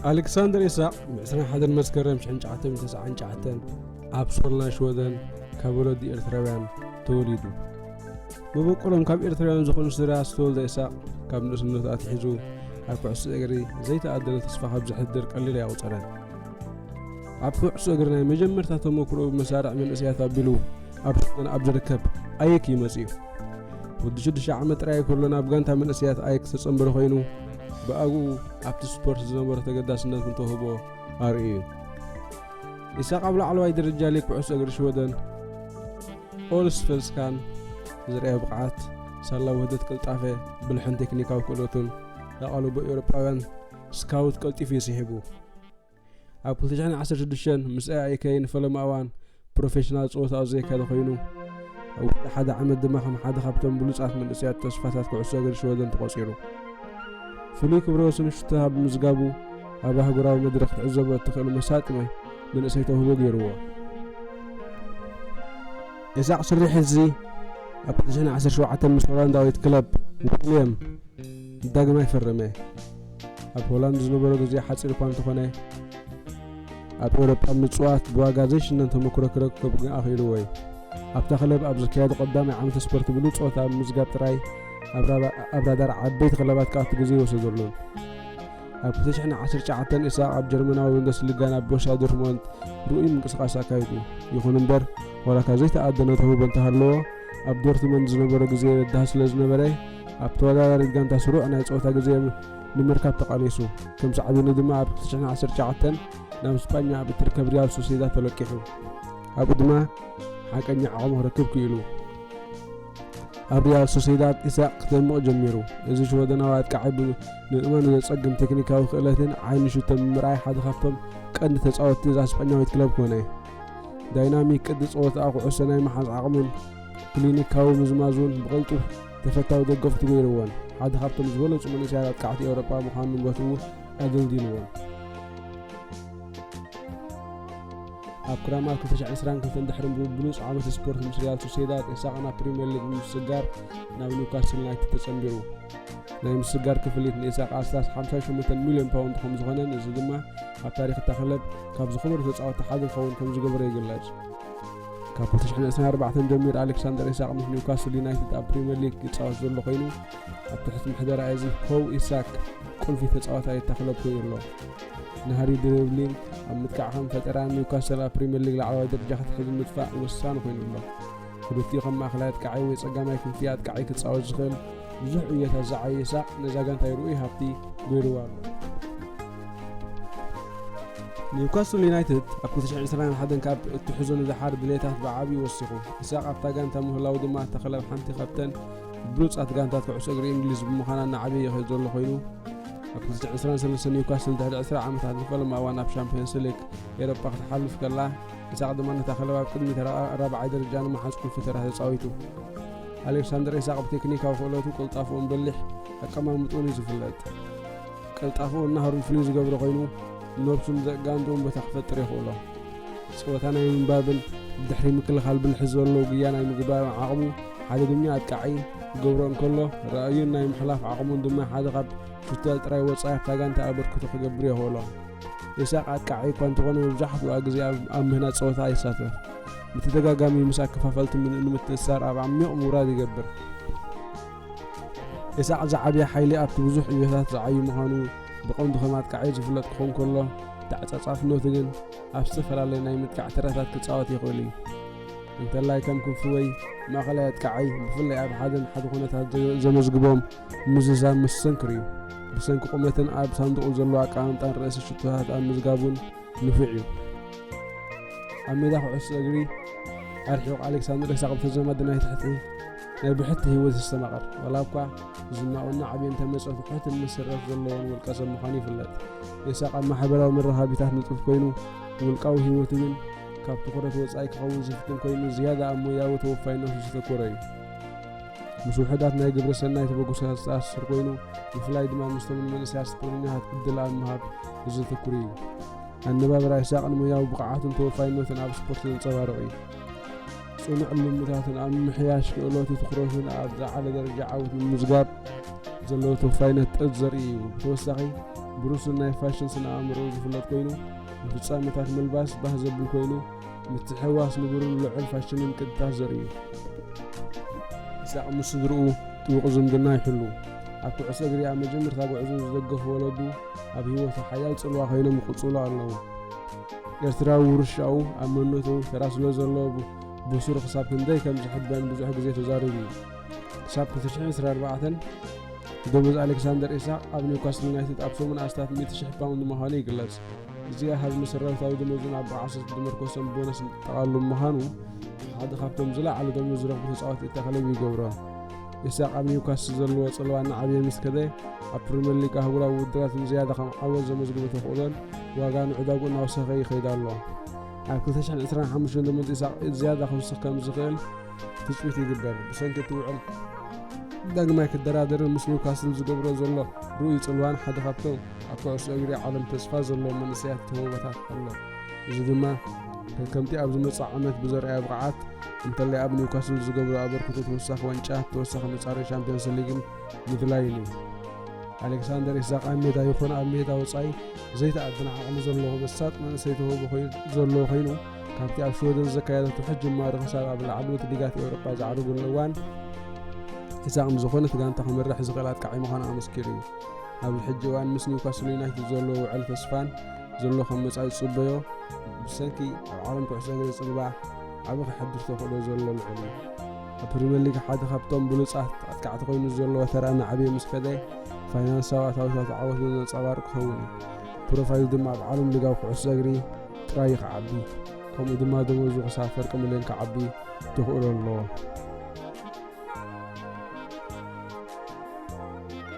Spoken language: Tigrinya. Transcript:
ኣሌክሳንደር ኢሳቕ ብ21 መስከረም 1999 ኣብ ሶልና ሽወደን ካብ ወለዲ ኤርትራውያን ተወሊዱ መበቆሎም ካብ ኤርትራውያን ዝኾኑ ስድራ ዝተወልደ ኢሳቕ ካብ ንእስነቱ ኣትሒዙ ኣብ ኩዕሶ እግሪ ዘይተኣደነ ተስፋ ካብ ዘሕድር ቀሊል ኣይቑፀረን ኣብ ኩዕሶ እግሪ ናይ መጀመርታ ተመክሮኡ ብመሳርዕ መንእሰያት ኣቢሉ ኣብ ሽወደን ኣብ ዝርከብ ኣየክ እዩ መጺኡ። ወዲ ሽዱሽተ ዓመት ጥራይ ከሎ ናብ ጋንታ መንእሰያት ኣየክ ዝተጸንበረ ኮይኑ ብኣግኡ ኣብቲ ስፖርት ዝነበሮ ተገዳስነት እውን ተውህቦ ኣርእዩ እዩ። ኢሳቅ ኣብ ላዕለዋይ ደረጃ ሊግ ኩዕሶ እግሪ ሽወደን ኦልስፈልስካን ዝርኣዮ ብቕዓት ሳላ ውህደት ቅልጣፈ ብልሕን ቴክኒካዊ ክእለቱን ኣቓልቦ ኤውሮጳውያን ስካውት ቀልጢፉ እዩ ስሒቡ ኣብ 2016 ምስ ኤኣይኬይን ፈለማ እዋን ፕሮፌሽናል ጸወታኡ ዘየካየደ ኮይኑ ኣብ ውሽጢ ሓደ ዓመት ድማ ከም ሓደ ካብቶም ብሉጻት መንእሰያት ተስፋታት ኩዕሶ እግሪ ሽወደን ተቖጺሩ ፍሉይ ክብረ ወሰን ሽቶ ኣብ ምዝጋቡ ኣብ ኣህጉራዊ መድረኽ ትዕዘቦ እትኽእል መሳጢ መንእሰይ ተውህቦ ገይርዎ ኢሳቅ ሽሪሕ እዚ ኣብ 2017 ምስ ሆላንዳዊት ክለብ ዊልያም ዳግማይ ፈረመ ኣብ ሆላንድ ዝነበሮ ግዜ ሓጺር እኳ እንተኾነ፣ ኣብ ኤውሮጳ ምጽዋት ብዋጋ ዘይሽነን ተመክሮ ክረክብ ግን ኣኽኢልዎ እዩ። ኣብታ ክለብ ኣብ ዝካየድ ቀዳማይ ዓመት ስፖርት ብሉጽ ጸወታ ብምምዝጋብ ጥራይ ኣብ ራዳር ዓበይቲ ክለባት ክኣቱ ግዜ ኣይወሰደሉን። ኣብ ክልተ ሽሕን ዓሰርተ ትሽዓተን ኢሳቕ ኣብ ጀርመናዊ ቡንደስሊጋ ናብ ቦርሻ ዶርትሞንድ ርኡይ ምንቅስቓስ ኣካይዱ። ይኹን እምበር፣ ዋላካ ዘይተኣደነ ተውህቦ እንተሃለዎ፣ ኣብ ዶርትሞንድ ዝነበሮ ግዜ በዳሂ ስለዝነበረ፣ ኣብ ተወዳዳሪት ጋንታ ስሩዕ ናይ ጸወታ ግዜ ንምርካብ ተቓሊሱ፣ ከም ሳዕቤኑ ድማ ኣብ 2019 ናብ ስጳኛ ኣብ እትርከብ ሪያል ሶሲዳድ ተለቂሑ፣ ኣብኡ ድማ ሓቀኛ ዓቕሙ ክረክብ ክኢሉ። ኣብ ሪያል ሶሲዳድ ኢሳቕ ክደምቕ ጀሚሩ። እዚ ሽወደናዊ ኣጥቃዒ ንምእማኑ ዘጸግም ቴክኒካዊ ክእለትን ዓይኒ ሽቶ ምምርኣይ ሓደ ካብቶም ቀንዲ ተጻወትቲ እዛ ስጳኛዊት ክለብ ኮነ። ዳይናሚክ ቅዲ ጸወታኣ፣ ኩዕሶ ናይ ምሓዝ ዓቕሙን ክሊኒካዊ ምዝማዝ እውን ብቐልጡፍ ተፈታዊ ደገፍቱ ገይርዎን ሓደ ካብቶም ዝበለጹ መንእሰያት ኣጥቃዕቲ ኤውሮጳ ምዃኑ ንብረቱ ኣገልጊልዎን። ኣብ ክራማት 2022 ድሕሪ ብብሉጽ ዓመት ስፖርት ምስ ሪያል ሶሴዳድ ኢሳቕ ናብ ፕሪምየር ሊግ ንምስጋር ናብ ኒውካስል ዩናይትድ ተጸንቢሩ ናይ ምስጋር ክፍሊት ንኢሳቕ ኣስታስ 58 ሚልዮን ፓውንድ ከም ዝኾነን እዚ ድማ ኣብ ታሪክ እታ ክለብ ካብ ዝኸበሩ ተጻወቲ ሓደ ክኸውን ከም ዝገበረ ይግለጽ ካብ 2024 ጀሚሩ ኣሌክሳንደር ኢሳቅ ምስ ኒውካስል ዩናይትድ ኣብ ፕሪምየር ሊግ ይፃወት ዘሎ ኮይኑ ኣብ ትሕቲ ምሕደራ እዚ ሆው ኢሳክ ቁልፊ ተፃዋታይ እታ ክለብ ኮይኑ ኣሎ ናህሪ ድሪብሊን ኣብ ምጥቃዕ ከም ፈጠራ ኒውካስል ኣብ ፕሪምየር ሊግ ላዕለዋይ ደረጃ ክትሕዝ ምጥፋእ ወሳኒ ኮይኑ ኣሎ ክልቲኡ ከም ማእኸላይ ኣጥቃዓይ ወይ ፀጋማይ ክንፊ ኣጥቃዓይ ክፃወት ዝኽእል ብዙሕ ዕዮታት ዝዓየሳ ነዛ ጋንታይ ርኡይ ሃብቲ ገይሩዋ ኣሎ። ኒውካስል ዩናይትድ ኣብ 2021 ካብ እትሕዞ ንደሓር ድሌታት ብዓብዪ ወሲኹ፣ ኢሳቕ ኣብታ ጋንታ ምህላዉ ድማ እታ ክለብ ሓንቲ ካብተን ብሉጻት ጋንታት ኩዕሶ እግሪ እንግሊዝ ብምዃና እናዓበየ ይኸይድ ዘሎ ኮይኑ ኣብ 2023 ኒውካስል ድሕሪ 20 ዓመታት ንፈለማ እዋን ኣብ ሻምፕዮንስ ሊግ ኤሮፓ ክትሓልፍ ከላ ኢሳቕ ድማ ነታ ክለብ ኣብ ቅድሚ ተራ ራብዓይ ደረጃ ንምሓዝ ቁልፊ ተራ ተጻዊቱ ኣሌክሳንደር ኢሳቕ ብቴክኒካዊ ክእለቱ ቅልጣፍኡን በሊሕ ኣቀማምጥኡን እዩ ዝፍለጥ። ቅልጣፍኡን ናህሩን ፍልይ ዝገብሮ ኮይኑ ነብሱን ዘእጋንድኡን ቦታ ክፈጥር የኽእሎ። ጸወታ ናይ ምንባብን ድሕሪ ምክልኻል ብልሒ ዘለዎ ግያ ናይ ምግባርን ዓቕሙ ሓደ ድኛ ኣጥቃዒ ክገብሮ እንከሎ ራእዩን ናይ ምሕላፍ ዓቕሙን ድማ ሓደ ካብ ሹተል ጥራይ ወጻኢ ኣብታ ጋንታ ኣበርክቶ ክገብር የኽእሎ። ኢሳቕ ኣጥቃዒ እኳ እንተኾነ መብዛሕትኡ ግዜ ኣብ ምህናጽ ጸወታ ይሳተፍ። ብተደጋጋሚ ምስ ኣከፋፈልቲ ንምትእስሳር ኣብ ዓሚቕ ምውራድ ይገብር። ኢሳቕ ዝዓብየ ሓይሊ ኣብቲ ብዙሕ ዕዮታት ዝዓዩ ምዃኑ ብቐንዱ ከም ኣጥቃዒ ዝፍለጥ ክኾን ከሎ ተዓጻጻፍነቱ ግን ኣብ ዝተፈላለየ ናይ ምጥቃዕ ተራታት ክጻወት ይኽእል እዩ። እንተላይ ከም ክንፊ ወይ ማእኸላይ ኣጥቃዓይ ብፍላይ ኣብ ሓደን ሓደ ኩነታት ዘመዝግቦም ምዝዛም መስተንክር እዩ። ብሰንኪ ቁመትን ኣብ ሳንዱቑ ዘለዎ ኣቀማምጣን ርእሲ ሽቶታት ኣብ ምዝጋቡን ንፉዕ እዩ። ኣብ ሜዳ ኩዕሶ እግሪ ኣርሒቑ ኣሌክሳንደር ኢሳቕ ብተዛማዲ ናይ ትሕቲ ናይ ብሕቲ ህይወት ይስተማቐር። ዋላ እኳ ዝናኡን ናዕብን እንተመጸ ፍሑትን መሰረት ዘለዎን ውልቀሰብ ምዃኑ ይፍለጥ። ኢሳቕ ኣብ ማሕበራዊ መራኸቢታት ንጡፍ ኮይኑ ውልቃዊ ህይወቱ ግን ካብ ትኹረት ወጻኢ ክኸውን ዝፍትን ኮይኑ ዝያዳ ኣብ ሞያዊ ተወፋይነቱ ዘተኮረ እዩ። ምስ ውሑዳት ናይ ግብረ ሰናይ ተበግሶታት ዝተኣሳሰር ኮይኑ ብፍላይ ድማ ምስቶም ንመንእሰያት ስፖርተኛታት ዕድል ኣብ ምሃብ ብዘተኩር እዩ። ኣነባብራ ኢሳቕ ንሞያዊ ብቕዓቱን ተወፋይነቱን ኣብ ስፖርት ዘንጸባርቕ እዩ። ጽኑዕ ልምታትን ኣብ ምምሕያሽ ክእለቱ ትኩረቱን ኣብ ዝዓለ ደረጃ ዓወት ንምምዝጋብ ዘለዎ ተወፋይነት ጥጥ ዘርኢ እዩ። ብተወሳኺ ብሩሱን ናይ ፋሽን ስነ ኣእምሮ ዝፍለጥ ኮይኑ ንፍጻመታት ምልባስ ባህ ዘብል ኮይኑ ምትሕውዋስ ንቡርን ልዑል ፋሽንን ቅጥታት ዘርኢ እዩ። ኢሳቕ ምስ ስድርኡ ጥቡቕ ዝምድና ይሕሉ። ኣብ ኩዕሶ እግሪ ኣብ መጀመርታ ጉዕዞኡ ዝደገፉ ወለዱ ኣብ ህይወቱ ሓያል ጽልዋ ኮይኖም ይቕጽሉ ኣለዉ። ኤርትራዊ ውርሻኡ ኣብ መንነቱ ተራ ስለ ዘለዎ ብሱሩ ክሳብ ክንደይ ከም ዝሕበን ብዙሕ ግዜ ተዛሪቡ እዩ። ክሳብ ክልተ ሽሕን ዕስራን ኣርባዕተን ደሞዝ ኣሌክሳንደር ኢሳቕ ኣብ ኒውካስል ዩናይትድ ኣብ ሰሙን ኣስታት ሚእቲ ሽሕ ፓውንድ ምዃኑ ይግለጽ። እዚ ኣሃዝ መሰረታዊ ደሞዝን ኣበዓዕሶ ዝተመርኮሰን ቦነስ ዝጠቓልሉ ብምዃኑ ሓደ ካብቶም ዝለዓሉ ደሞዝ ዝረኽቡ ተጻወቲ እታ ክለብ ይገብሮ። ኢሳቕ ኣብ ኒውካስል ዘለዎ ጽልዋ እናዓበየ ምስ ከደ፣ ኣብ ፕሪምየር ሊግ ኣህጉራዊ ውድድራት ንዝያዳ ከም ዓወት ዘመዝግቦ ተኽእሎን ዋጋ ምዕዳጉ እናወሰኸ ይኸይድ ኣሎ። ኣብ ክልተ ሽሕን ዕስራን ሓሙሽተን ደሞዝ ኢሳቕ ዝያዳ ክውስኽ ከም ዝኽእል ትጽቢት ይግበር፣ ብሰንኪ እቲ ውዕል ዳግማይ ክደራደርን ምስ ኒውካስል ዝገብሮ ዘሎ ርኡይ ጽልዋን ሓደ ካብቶም ኣብ ኩዕሶ እግሪ ዓለም ተስፋ ዘለዎም መንእሰያት ተውህቦታት ኣሎ። እዚ ድማ ከምቲ ኣብ ዝመጽእ ዓመት ብዘርኣዮ ብቕዓት እንተላይ ኣብ ኒውካስል ዝገብሮ ኣበርክቶ ተወሳኺ ዋንጫ፣ ተወሳኺ መጻረዪ ሻምፕዮንስ ሊግን ምድላይን እዩ። ኣሌክሳንደር ኢሳቕ ኣብ ሜዳ ይኹን ኣብ ሜዳ ወጻኢ ዘይተኣድነ ዓቕሚ ዘለዎ መሳጢ መንእሰይ ተውህቦ ዘለዎ ኮይኑ ካብቲ ኣብ ሽወደን ዘካየዶ ትሑት ጅማሮ ክሳብ ኣብ ላዕለዎት ሊጋት ኤውሮጳ ዝዓርገሉ እዋን ኢሳቕ ንዝኾነት ጋንታ ክመርሕ ዝኽእል ኣጥቃዒ ምዃኑ ኣመስኪሩ እዩ። ኣብዚ ሕጂ እዋን ምስ ኒውካስል ዩናይትድ ዘሎ ውዕል ተስፋን ዘሎ ከም መጻኢ ዝጽበዮ ብሰንኪ ኣብ ዓለም ኩዕሶ እግሪ ጽልባ ዓቢ ክሕድር ተኽእሎ ዘሎ ልዑል እዩ ኣብ ፕሪምየር ሊግ ሓደ ካብቶም ብሉጻት ኣጥቃዕቲ ኮይኑ ዘለዎ ተራ ናዕብየ ምስ ከደ ፋይናንሳዊ ኣታዊታት ዓወት ብዘንጸባርቕ ክኸውን እዩ ፕሮፋይሉ ድማ ኣብ ዓለም ሊጋዊ ኩዕሶ እግሪ ጥራይ እዩ ክዓቢ ከምኡ ድማ ደሞዙ ክሳብ ፍርቂ ሚልዮን ክዓቢ ተኽእሎ ኣለዎ